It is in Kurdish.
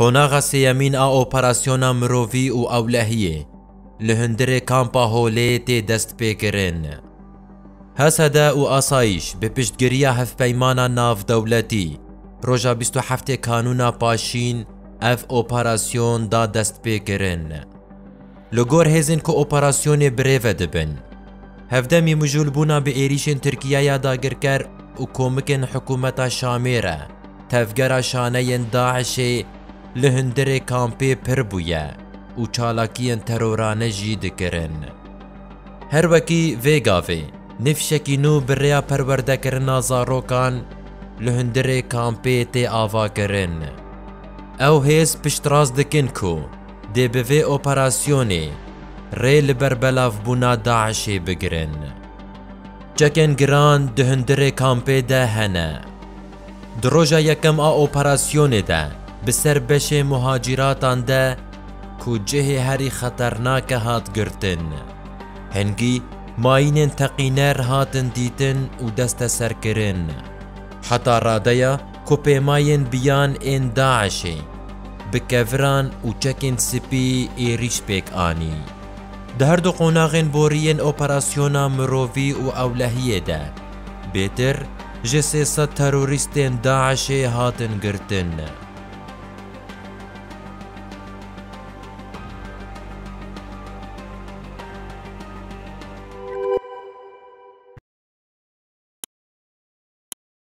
Qonaxa sêyemîn a operasyona mirovî û ewlehiyê li hundirê Kampa Holê tê destpêkirin. Hesede û Asayîş bi piştgiriya Hevpeymana Navdewletî roja bîst û heftê Kanûna paşîn ev operasyon da destpêkirin. Li gor hêzên ku operasyonê birêve dibin, hevdemî mijûlbûna bi êrîşên Tirkiyeya dagirker û komikên hikûmeta Şamê re, tevgera şaneyên DAIŞ'ê li hundirê kampê pir bûye û çalakiyên terorane jî dikirin. Her wekî vê gavê, nê fîşekî nû bi rêya perwerdekirina zarokan li hundirê kampê tê avakirin. Ew hêz piştrast dikin ku, Dê bi vê operasyonê rê li ber belavbûna DAIŞ'ê bigirin. Çekên giran di hundirê kampê de hene. Di roja yekem a operasyonê de bi ser beşê muhacîratan de ku cihê herî xeternake hat girtin. Hingî mayînên teqîner hatin dîtin û desteserkirin. Heta radeya Ku pêmayên biyan ên DAIŞ'ê bi keviran û çekên spî êrîş pêk anî. Di her du qonaxên boriyên operasyona mirovî û ewlehiyê de bêtir ji sê sed terorîstên DAIŞ'ê hatin girtin.